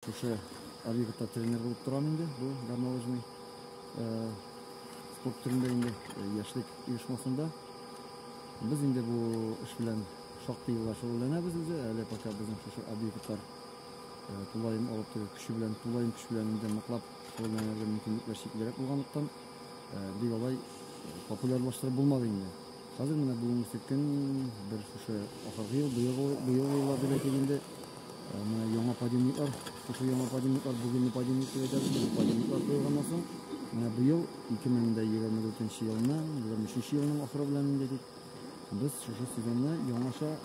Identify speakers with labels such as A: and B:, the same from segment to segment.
A: Шушы Алигатта тренер булып торам инде, бу горнолыжный э, спорт төрендә инде э, яшьлек оешмасында. Без инде бу эш белән шактый еллар шөгыльләнәбез үзе, әле пока безнең шушы объектлар э, тулаем алып тору көче белән, тулаем көч белән инде ныклап шөгыльләнергә мөмкинлекләр чиклерәк булганлыктан, бик алай популярлаштырып булмады инде. Хәзер менә бүгенге сөткән бер шушы ахыргы ел, быел еллар дип әйтик инде, менә яңа подъемниклар, шушы яңа подъемниклар, бүгенге подъемник дип әйтәбез, бу подъемниклар куелганнан соң, менә быел 2024 елны, 23 елның ахыры белән инде дип, без шушы сөйгәнне яңаша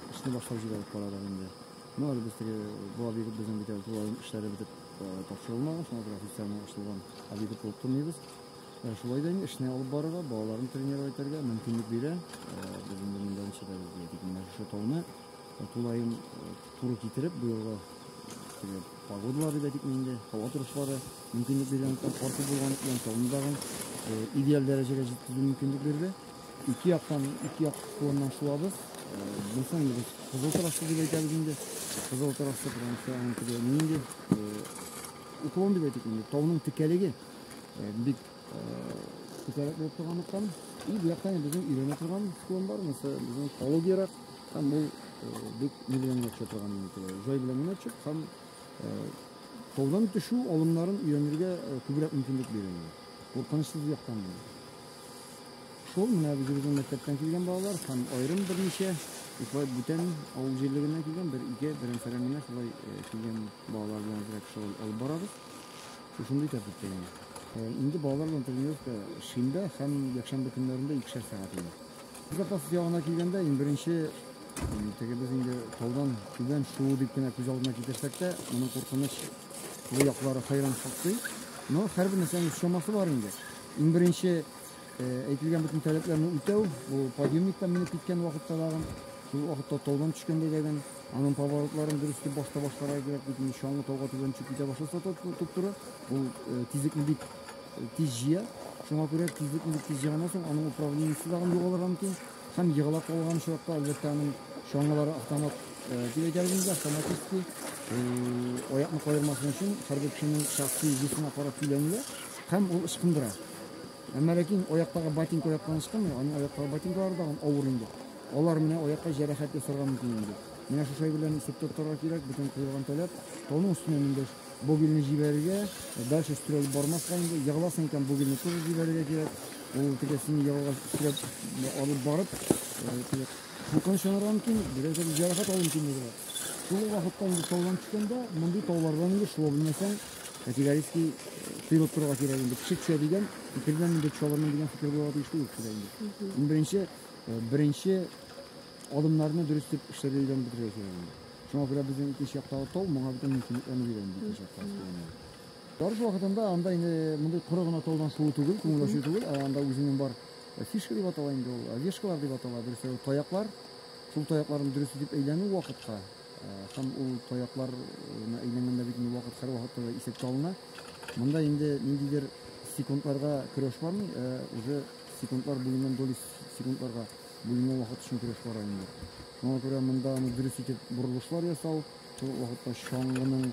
A: эшне башлап җибәреп карадык инде. Ну, әле без теге бу объект безнең бит әле тулаем эшләре бетеп тапшырылмаган, шуңа күрә официально ачылган объект булып тормыйбыз. Ә шулай да эшне алып барырга, балаларны тренировать итәргә мөмкинлек бирә. Без инде монда ничәдә яшәдек, менә шушы тауны тулаем туры китереп, бу елга теге погодалар дип әйтик инде, һава торышлары мөмкинлек биргәнлектән, карты булганлыктан тауны тагын идеаль дәрәҗәгә җиткерү мөмкинлек бирде. Ике яктан, ике як кулыннан шулабыз. Булса инде без кызыл тарашлы дип әйтәбез инде. Кызыл тарашлы, потому что аның теге нинди уклон дип әйтик инде, тауның текәлеге Бик күтәрәк булып торганлыктан. И бу яктан безнең өйрәнә торган склон бар, мәсәлән, безнең экологиярак һәм ул бик ни белән генә төшә торган җай белән генә төшеп һәм таудан төшү алымнарын өйрәнергә күбрәк мөмкинлек бирә. Куркынычсыз яктан гына. Шул менә үзебезнең мәктәптән килгән балалар һәм аерым берничә шулай бүтән авыл җирлегеннән килгән бер ике берәмсәрән генә шулай килгән балалар белән шулай алып барабыз. Шушында итәбез бит инде. Э, инде балалар белән тренировка шимбә һәм якшәмбе көннәрендә икешәр сәгать инде. Запас ягына килгәндә, иң беренче теге без инде таудан түбән шуу дип кенә күз алдына китерсәк тә, моның куркыныч бу яклары хайран шактый. Но һәрбер нәрсәнең чамасы бар инде. Иң беренче Әйтелгән бөтен таләпләрне үтәү, бу подъемниктан менеп киткән вакытта дагы, шул вакытта таудан төшкәндә дә аның поворотларын дөрес итеп башта башларга кирәк, бит инде чаңгы тауга түбән төшеп китә башласа туп-туры, ул тизлекне бик тиз җыя. Шуңа күрә тизлекне бик тиз җыйганнан соң аның управлениесе дагы югалырга мөмкин. Һәм егыла калган очракта, әлбәттә, аның чаңгылары автомат дип әйтәбез инде, автоматически аякны каермасын өчен хәрби кешенең шәхси весына карап көйләнелә. Һәм ул ычкындыра. Әмма ләкин аяктагы ботинка яктан ычкынмый, аның аяктагы ботинкалары да авыр инде. Алар менә аякка җәрәхәт ясарга мөмкин инде. Менә шушы әйберләрне сүптеп торырга кирәк, бүтән куелган таләп. Тауның өстенә менде богильне җибәрергә, дальше өстерәлеп бармаска инде. Егыласың икән, богильне тоже җибәрергә кирәк. Ул теге сине егылга өстерәп алып барып, куркыныч янарга мөмкин, берәргә җәрәхәт алу мөмкинлеге бар. Шул вакытта инде таудан төшкәндә, мондый таулардан инде шуа белмәсәң, Категорически тыелып торырга кирәк инде. Кеше төшә дигән, икелдән инде төшәләрмен дигән фикер булырга тиеш түгел кешедә инде. Иң беренче, э, беренче адымнарны дөрес итеп эшләргә өйрәнеп бетерергә кирәк инде. Шуңа күрә безнең икенче яктагы тау моңа бөтен мөмкинлекләрне бирә инде икенче якта өстәгәннән. Барыш вакытында анда инде мондый коры гына таудан шуу түгел, күңел ачу түгел, ә анда үзенең бар э, фишка дип атала инде ул, э, вешкалар дип атала, дөрес, таяклар. Шул таякларны дөрес итеп әйләнү вакытка Һәм ул таяклар әйләнгәндә бит инде вакыт һәрвакытта да исәпкә алына. Монда инде ниндидер секундларга көрәш бармы? Ә уже секундлар буеннан доли секундларга бүленгән вакыт өчен көрәш бара инде. Моңа күрә монда аны дөрес итеп борылышлар ясау, шул вакытта чаңгының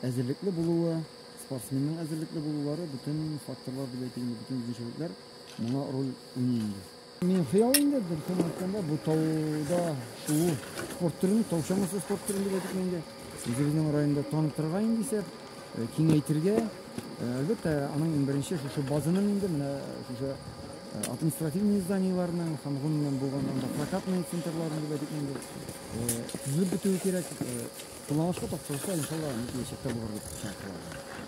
A: әзерлекле булуы, спортсменның әзерлекле булулары, бөтен факторлар дип әйтик, бөтен үзенчәлекләр моңа роль уйный инде. Минем хыял инде, дөресен әйткәндә, бу тауда шуу спорт төрен, тау чамасы спорт төрен дип әйтик инде. Үзебезнең районда танытырга инде исәп, э, киңәйтергә. Э, әлбәттә, аның иң беренче шушы базаның инде менә шушы э, административный зданиеләрнең һәм гомумән булган анда прокатный центрларның дип әйтик инде. Төзелеп бетүе кирәк. Планлашка тапшырса, иншалла, мөмкинчәктә булыр дип чакыралар.